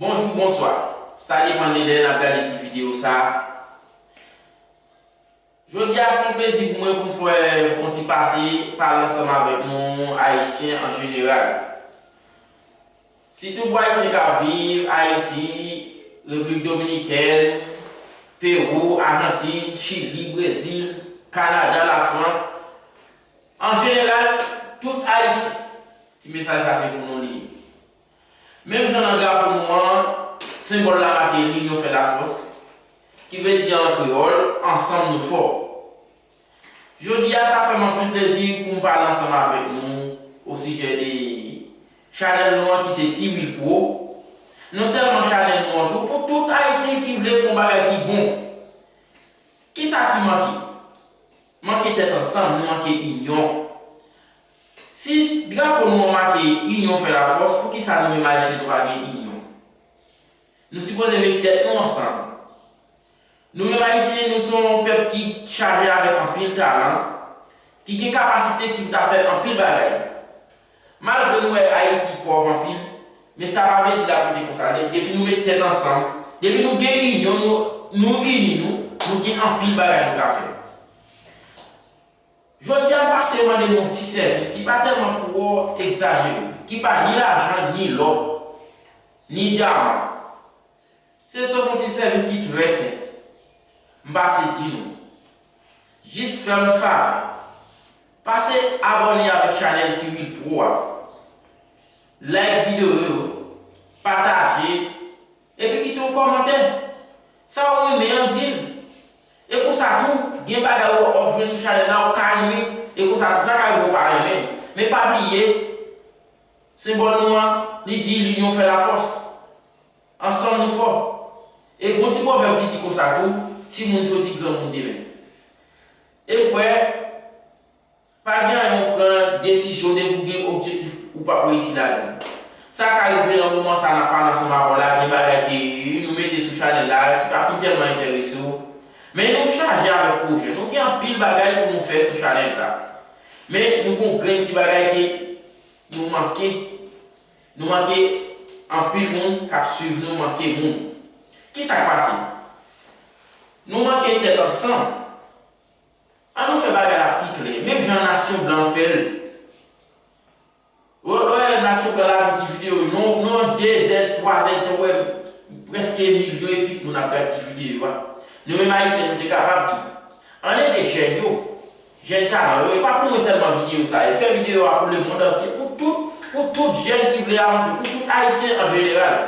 Bonjou bonswa sa depan de lè nap gade ti video sa. Jodi a se yon plezi pou mwen pou m fè yon ti pase pale ansanm avèk nou Ayisyen an jeneral. Sitou pou Ayisyen k ap viv Ayiti, Repiblik Dominikèn, Pewou, Ajantin, Chili, Brezil, Kanada, Lafrans, an jeneral tout Ayisyen. Ti mesaj sa se pou nou li ye. Menm jan nan drapo nou an, senbòl la make Linyon fè lafòs, ki vle di an kreyòl, Ansanm nou fò. Jodi a sa fè m anpil plezi pou m pale ansanm avèk nou osijè de chanèl nou an ki se T-wilpro, non sèlman chanèl nou an tou pou tout Ayisyen ki vle fè yon bagay ki bon. Kisa ki manke? Manke tèt ansanm, nou manke inyon. Si drapo nou an make inyon fè lafòs poukisa nou menm ayisyen nou pa gen inyon? Nou sipoze met tèt nou ansanm. Nou menm ayisyen nou son yon pèp ki chaje avèk anpil talan, ki gen kapasite ki pou ta fè anpil bagay. Malgre nou wè ayiti pòv anpil, men sa pa vle di lap rete konsa nèt depi nou met tèt ansanm, depi nou gen inyon nou ini nou, nou gen anpil bagay nou ka fè. Jodi a, m pase mande nou yon ti sèvis ki pa tèlman twò egzajere, ki pa ni lajan, ni lò, ni dyaman. Se sof yon ti sèvis ki trè senp. M pase di nou, jis fè m favè, pase abòne avèk chanèl Tiwil Pro a, like videyo yo, pataje, epi kite yon kòmantè. Sa ou renmen an, di n. E konsa tou, gen bagay ou pa wap jwenn sou chanèl la ou ka renmen, e konsa tou sa ka rive ou pa renmen. Men pa bliye, senbòl nou an, li di linyon fè lafòs. Ansanm nou fò. E gon ti pwovèb ki di konsa tou, timoun jodi granmoun demen. Ekwè. Pa gen anyen ou pran desizyon depi ou gen objektif ou pap reyisi ladan l. Sa ka rive nan moman sa nap pale ansanm avè w la gen bagay ke nou mete sou chanèl la ki pa fin tèlman enterese w men nou chaje avèk pwojè nou gen anpil bagay pou nou fè sou chanèl sa men nou gon grenn ti bagay ke nou manke nou manke anpil moun kap swiv nou manke moun kisak pase nou manke tèt ansanm. An nou fè bagay la pi klè, menm jan nasyon blan fè l. Wè wè nasyon blan la gen ti videyo yo, nan yon dezèd, twazèd tan w wè prèske milyon e kèk moun ap gad ti videyo yo a. Nou menm Ayisyen nou te kapab tou. An n ede jèn yo, jèn talan yo, e pa pou mwen sèlman videyo sa yo. Fè videyo a pou lemonn antye, pou tout, pou tout jèn ki vle avanse, pou tout Ayisyen an jeneral.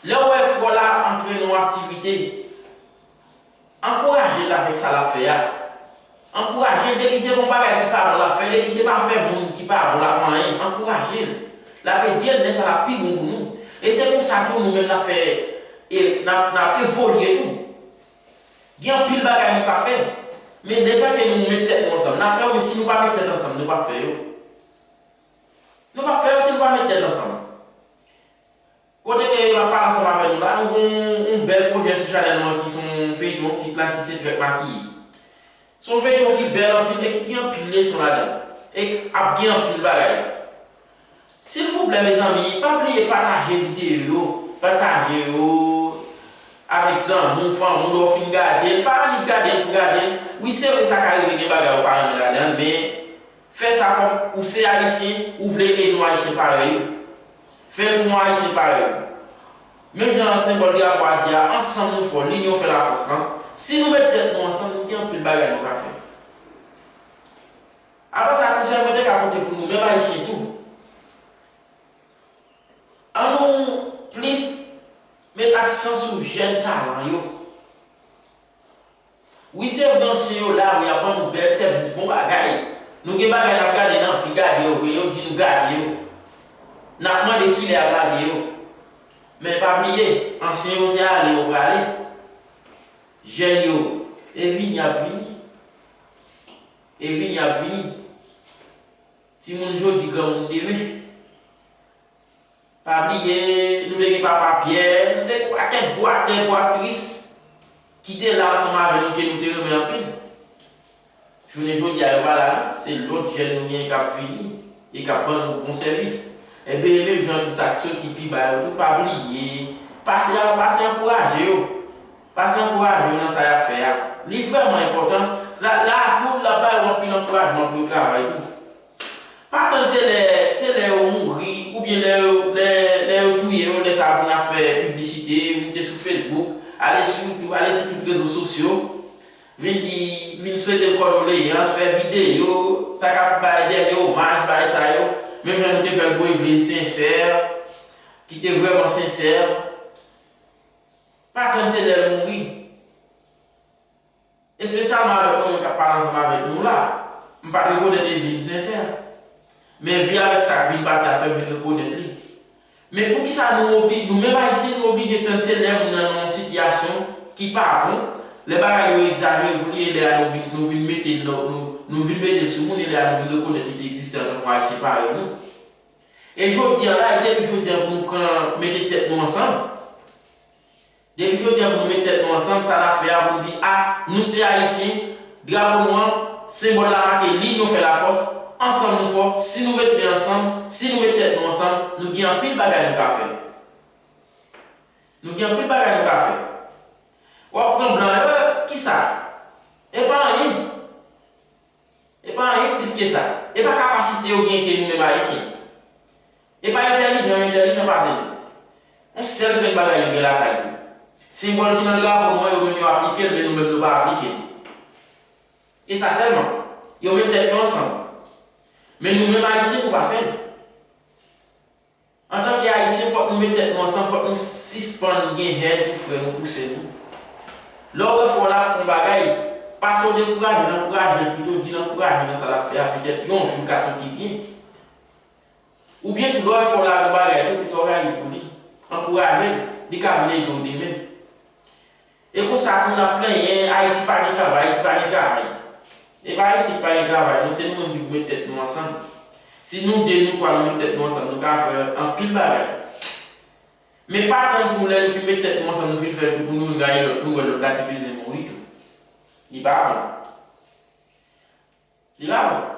Lè w wè fò la antre nan yon aktivite, Ankouraje l avèk sa l ap fè a. Ankouraje l depi se bon bagay ki pa bon l ap fè, depi se pa fè moun ki pa bon l ap manyen, ankouraje l. L ap ede n lè sa l ap pi bon pou nou. E se konsa tou nou menm n ap fè e n ap n ap evolye tou. Gen anpil bagay nou ka fè, men lefètke nou met tèt nou ansanm n ap fè yo, men si nou pa met tèt ansanm nou p ap fè yo. Nou p ap fè yo si nou pa met tèt ansanm. Kote ke map pale ansanm avè nou la nou gen yon bèl projè sou chanèl mwen ki son feyton tit la ki se trèt makiye. Son feyton ki bèl anpil e ki gen anpil leson ladan e k ap gen anpil bagay. Silvouplè mezanmi pa bliye pataje videyo yo, pataje yo avèk zanmi w, fanmi w lè w fin gadel, pa annik gadel pou gadel, wi se vre sa ka rive gen bagay ou pa renmen ladan l men Fè sa kòm ou se ayisyen ou vle ede yon ayisyen parèy ou. Fè l pou yon ayisyen parèy ou. Menm jan an senbòl drapo a di a ansanm nou fò linyon fè lafòs lan, si nou met tèt nou ansanm nou gen anpil bagay nou ka fè. Apa sa konsèy mwen te ka pote pou nou menm ayisyen tou. An nou plis met aksan sou jèn talan yo. Wi sèm ansyen yo la wi apan nou bèl sèvis bon bagay nou gen bagay nap gade nan anvi gade yo vre yo di nou gade yo nap mande kilè yap lage yo men pa bliye ansyen yo se ale yo prale jèn yo e vini ap vini e vini ap vini timoun jodi granmoun demen. Pa bliye, nou te gen papa Pierre, nou te gen pakèt gwo aktè, gwo aktris ki te la ansanm avè nou ke nou te renmen anpil. Jounen jodi a yo pa la non, se lòt jèn nou genyen k'ap vini e k'ap ban nou bon sèvis. Enben e menm jan tou sa k' soti pi ba yo tou pa bliye, pase avè, pase ankouraje yo, pase ankouraje yo nan sa y'ap fè a, li vrèman enpòtan, sa la tou l'ap ba yo anpil ankourajman pou yo travay tou. Pa tann se lè se lè yo mouri oubyen lè yo lè lè yo touye yo lè sa pou n ap fè piblisite, moute sou Facebook, ale sou YouTube, ale sou tout rezo sosyo, vin di vin swete l kòdoleyans, fè videyo, sa k ap bay dènye omaj bay sa yo, menm jan nou te fè l pou Evelyne Sincère ki te vrèman sensè. Pa tann se lè l mouri. espesyalman avèk yon moun k ap pale ansanm avèk nou la, m pa t rekonèt Edlin sensè. Men vi avèk sa k vin pase a fè m vin rekonèt li. Men poukisa nou obli, nou menm Ayisyen nou oblije tann se lè moun nan nan yon sitiyasyon ki pa bon, lè bagay yo egzajere pou li e lè a nou vin nou vin mete l nan nou nou vin mete l sou moun e lè a nou vin rekonèt li te egziste antanke yon Ayisyen parèy nou. E jodi a la, li te pou jodi a pou nou pran mete tèt nou ansanm. Depi jodi a pou nou met tèt nou ansanm, sa nap fè a pou nou di a, nou se ayisyen, drapo nou an, senbòl la make li nyon fè lafòs, ansanm nou fò, si nou met men ansanm, si nou met tèt nou ansanm, nou gen anpil bagay nou ka fè. Nou gen anpil bagay nou ka fè. Wap pran blan yo, kisa? Epa anyen. E pa anyen plis ke sa. E pa kapasite yo gen ke nou menm Ayisyen. E pa entèlijan yo entèlijan pase nou. On sèl grenn bagay yo gen lakay yo. Senbòl ki nan drapo nou an yo menm yo aplike l men nou menm nou pa aplike l. E sa sèlman. Yo met tèt yo ansanm. Men nou menm Ayisyen nou pa fè l. Antanke Ayisyen fòk nou met tèt nou ansanm fòk nou sispann gen hèn pou frè nou pou sè nou. Lè w wè frè w la ap fè yon bagay, pa se w dekouraje nan ankouraje l pito di l ankouraje nan sa l ap fè a petèt yon jou l ka soti byen. Oubyen tou lè w wè frè w la ap yon bagay tou pito rayi pou li, ankouraje l, li ka vin ede w demen. E konsa tou nap plenyen ayiti pa gen travay ayiti pa gen travay e pa ayiti ki pa gen travay non se nou menm ki pou met tèt nou ansanm si nou 2 nou 3 nou met tèt nou ansanm nou ka fè anpil bagay men pa tann tou lè nou fin met tèt nou ansanm nou fin fèl tou pou nou vin gade lòt pou nou wè lòt la ki bezwen mouri tou li pa bon. Li pa bon.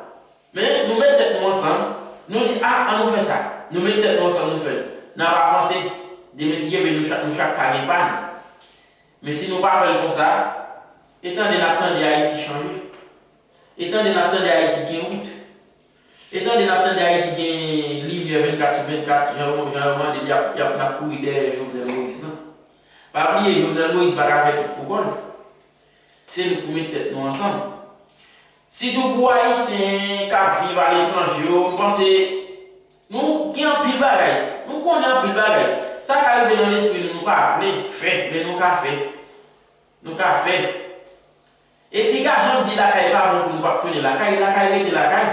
Men, nou met tèt nou ansanm, nou di, a, an nou fè sa. Nou met tèt nou ansanm nou fè l. N ap avanse. Demen si Dye vle nou chak nou chak ka gen pa nou. Men si nou pa fè l konsa, e tande n ap tande Ayiti chanje. E tande n ap tande Ayiti gen wout. E tande n ap tande Ayiti gen limyè 24 sou 24 jan yo jan yo mande l y ap y ap n ap kouri dèyè Jovenel Moïse. Non. Pa bliye Jovenel Moïse pa ka fè tout pou kò l. Se nou pou met tèt nou ansanm. Sitou pou Ayisyen kap viv aletranje yo m panse nou gen anpil bagay, nou konnen anpil bagay. Sa ka rive nan lespri nou nou pa vle fè men nou ka fè. Nou ka fè. E piga janm di lakay pa bon pou nou pap tounen lakay, lakay rete lakay.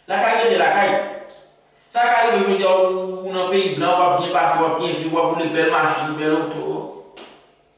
Lakay rete lakay. Sa ka rive jodi a ou nan peyi blan wap byen pase, wap byen viv, wap woule bèl machin, bèl oto.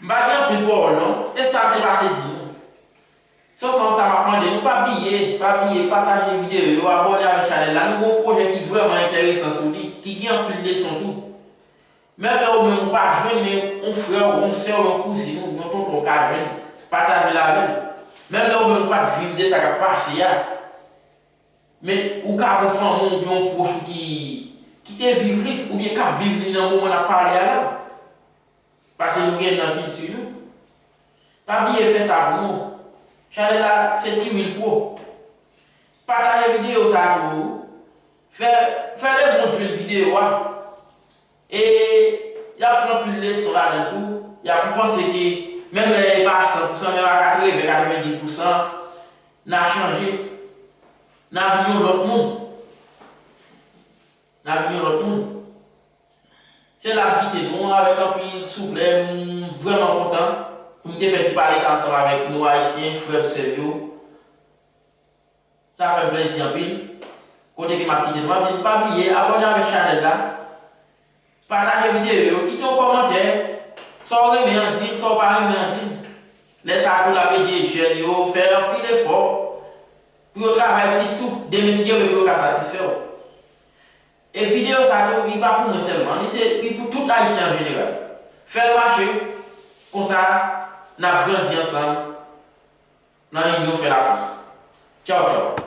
M pa gen anpil pawòl non, e sa m te pase di nou. Sèlman sa map mande nou pa bliye, pa bliye pataje videyo yo, abòne avèk chanèl la, nou gen yon pwojè ki vrèman entèresan sou li, ki gen anpil leson tou. Menm lè ou menm ou pa jwenn men yon frè w, yon sè w, yon kouzin ou, yon tonton w ka jwenn, pataje l avè l. Menm lè ou menm ou pat viv de sa kap pase a, men ou ka gen yon fanmi w oubyen yon pwòch ou ki te viv li, oubyen kap viv li nan moman nap pale a la. Pase nou gen nan kilti nou. Pa bliye fè savon ou. Chalè la se ti wil pou. Pataje video sa tou fè fè le bon twil video a e yap pran pil leson ladanl tou yap ou panse ke menm lè e pa a 100 pousan menm a 80 90 pousan na chanje na vin yon lòt moun na vin yon lòt moun. Se la m kite nou avèk anpil souple m vrèman kontan pou m te fè ti pale sa ansanm avèk nou ayisyen frè m sè m yo sa fè m plèzi anpil kote ke m ap kite nou anpil pa bliye abòne avèk chanèl la pataje videyo yo kite yon kòmantè sa w renmen an di m sa w pa renmen an di m lè sa tou l ap ede jèn yo fè anpil efò pou yo travay plis tou demen si gen moun pou yo ka satisfè w. E video sa tou li pa pou mwen selman li se li pou tout ayisyen an jeneral fèl mache konsa nap grandi ansanm nan inyon fè la fòs tchaw tchaw.